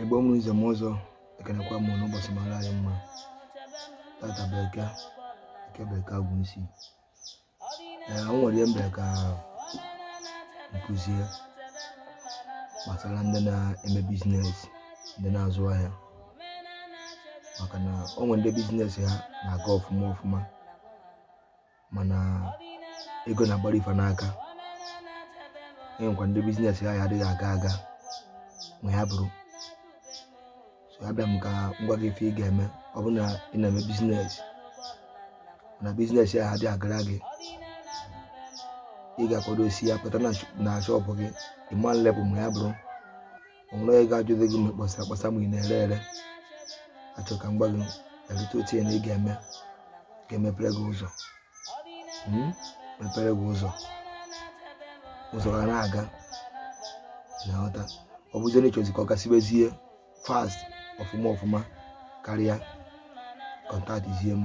igbo mụrụ nze mụọ ọzọ ekenekwa m unu ụbọchị mara anyị mma tata bụ eke eke bụ eke agwụ isi ee o nwere ihe m bịara ka m kụzie gbasara ndị na-eme biznes ndị na-azụ ahịa maka na o nwere ndị biznes ha na-aga ọfụma ọfụma mana ego na-agbarị fa n'aka e nwekwa ndị biznes ya adịghị aga aga ma ya bụrụ so abịa m ka m gwa gị ife ị ga-eme ọ bụrụ na ị na-eme biznes na biznes ya adịghị agara gị ị ga-akwadosịa pụta na shọpụ gị ị ma nlepụ ma ya bụrụ o nwere onye ga-ajụdị gị ma ị kpọsara akpọsa ma ị na-ere ere achọ ka m gwa gị a little thing ị ga-eme ga-emepere gị ụzọ hmm? mepere gị ụzọ ụzọ ga na-aga ị na-aghọta ọ bụzi na ị chọzi ka ọ gasibezie fast ọfụma ọfụma karịa kọntaktịzie m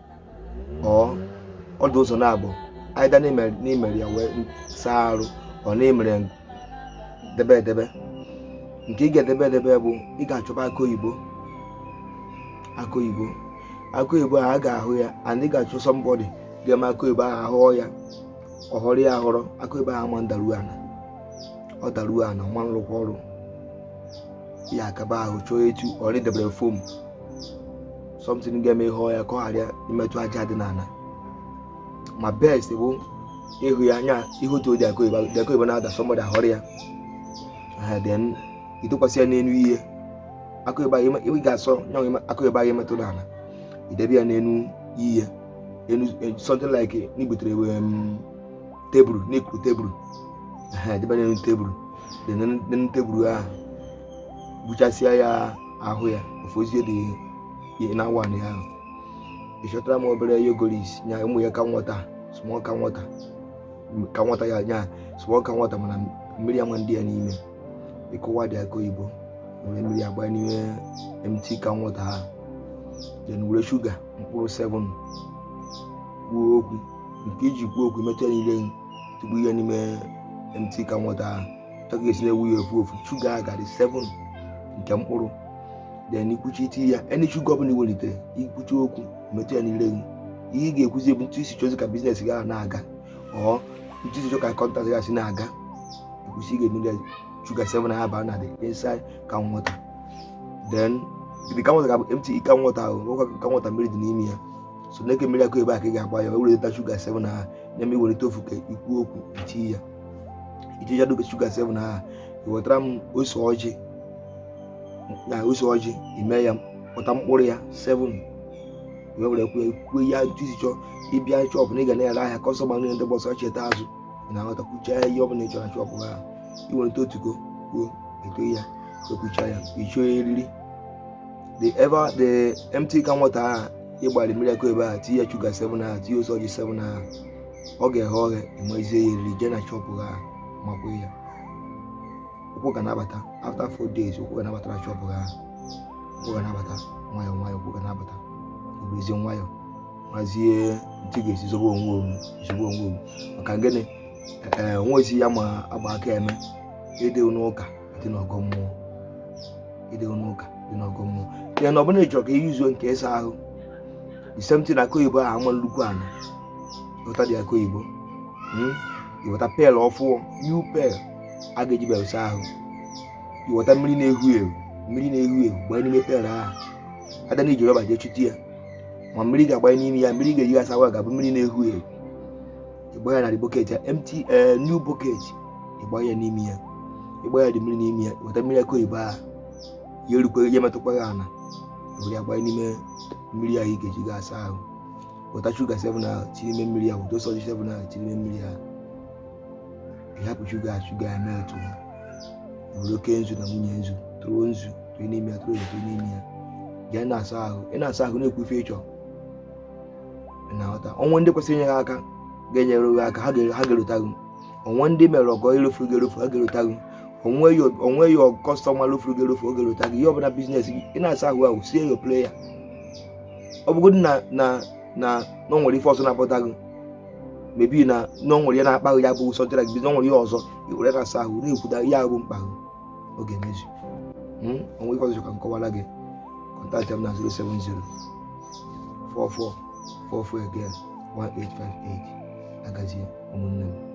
ọ ọ dị ụzọ naabọ aịda na i mere ya wee saa arụ or na i mere debe edebe nke ị ga-edebe edebe bụ ị ga-achọba akụ oyibo akụ oyibo akụ oyibo a ga-ahọ ya and ị ga-achọ sọmbọdị ga-eme akụ oyibo ahụ a họọ ya ọ họrọ ya ahọrọ akụ oyibo ahụ ama ndaru ana ọ daruo ana ọ ma nrụkwa ọrụ ya akaba ahụ chọọ etu or i debere fom something ga-eme ị họọ ya ka ọ ghara imetụ aja dị n'ala ma best bụ ịhọ ya nya ị họtudị akụ oyibo na-ada somebody ahọrọ ya then ị tụkwasị ya n'elu ihe akụ oyibo ị ga-asọ nya bụ akụ oyibo ahụ metụ n'ala i debe ya n'elu ihe e, something like na i butere um, tebụl na i kuru tebụl debe n'elu tebụl n'elu tebụl ahụ gbuchasịa ya ahụ ya ofozie dị ihe na awa ya ahụ ịchọtara m obere yogoris nya ụmụ ya ka nwata small ka nwata ka nwata ya nya small ka nwata mana mmiri ama ndị ya n'ime ịkụwa dị aka oyibo were mmiri agba n'ime mt ka nwata ha then were shuga mkpụrụ 7 kwuo okwu nke iji kwuo okwu metụ ya niile tupu ihe n'ime mt ka nwata ha ị ga-esi na-ewe ya ofu ofu shuga ahụ ga-adị 7 nke mkpụrụ then i kwuchaa i tinye ya any shuga ọbụla i welitere i kwuchaa okwu metụ ya n'ire gị ihe ị ga-ekwuzi bụ etu i si chọzi ka biznes gị na-aga or etu i si chọọ ka kọntraktị gị si na-aga i kwusịa ị ga-emere shuga 7 ahụ baa na the inside container then the container ga-abụ empty container ahụ nwekwa container mmiri dị n'ime ya sọ nke mmiri akụ oyibo ahụ ka ị ga-agba ya welita shuga 7 ahụ na-eme i welite ofu ka i kwuo okwu i tinye ya i tie ya dobe shuga seven ahụ i wetara m ose ọjị na ose ọjị ime ya kpọta mkpụrụ ya seven wee were kwue kwue ya otu i si chọọ ịbịa shọpụ na ị ga na-ere ahịa kọstọma niile ndị gba ọsọ cheta azụ na-aghọta kwuchaa ihe ọ bụla ị chọrọ shọpụ ahụ i weta otugo kwuo eto ya i kwuchaa ya ị chọọ eriri the ever the empty can water ị gbara mmiri akụ oyibo ahụ tinye shuga seven ahụ tinye ose ọjị seven ahụ ọ ga-eghe oghe ị mazie ya eriri jee na shọpụ ahụ makwa ya ụkwụ ga na-abata after four days ụkwụ ga na-abata na shọpụ ahụ ụkwụ ga na-abata nwayọ nwayọ ụkwụ ga na-abata i werezie nwayọ mazie otu ị ga-esi zobe onwe owu zobe onwe owu maka gịnị ee nwa ezi ya ma agba aka eme ị dị n'ụka dị n'ọgọ mmụọ ị dị n'ụka dị n'ọgọ mmụọ ya na ọ bụla ị chọrọ ka ihe izuo nke ịsa ahụ the same thing akụ oyibo ahụ ama erukwa ana ị gota the akụ oyibo hmm? ị gota pel ọfụụ new pel ị ga-eji welu saa ahụ i weta mmiri na-ehu ehu mmiri na-ehu ehu gbanye n'ime pel ahụ ada na i ji rọba jee chute ya ma mmiri ị ga-agbanye n'ime ya mmiri ị ga-eji asa ahụ ga-abụ mmiri na-ehu ehu ị gbanye na bọket ya empty eh, new bọket ị gbanye ya n'ime ya ị gbanye the mmiri n'ime ya i weta mmiri akụ oyibo ahụ ya erukwa ya emetụkwa ya ala were ya gbanye n'ime mmiri ahụ ị ga-eji ga asa ahụ weta shuga 7 ahụ tinye n'ime mmiri ahụ weta ose ọjị 7 ahụ tinye n'ime mmiri ahụ ị hapụ shuga shuga ya metụ ya were oke nzu na nwunye nzu tụrụ nzu tụrụ n'ime ya tụrụ tụrụ n'ime ya jee na-asa ahụ ị na-asa ahụ na-ekwu ife ị chọ na-aghọta o nwe ndị kwesịrị inye gị aka ga-enyere gị aka ha ga-erota gị o nwe ndị i mere ọgọ lofuru gị erofu ha ga-erota gị o nwe ya kọstọma lofuru gị erofu ọ ga-erota gị ihe ọbụla biznes gị ị na-asa ahụ ahụ say your prayer ọ bụgodị na na na na ọ nwere ife ọzọ na-apụta gị maybe na na ọ nwere ihe na-akpa gị ya bụ ụsọ jara gị na ọ nwere ihe ọzọ i were na-asa ahụ na-ekwuda ihe ahụ bụ mkpa gị ọ ga-emezu hmm? o nwe ife ọzọ ka m kọwara gị kọntaktị m na 070 44 44 again 1858 ya gazie ụmụnne m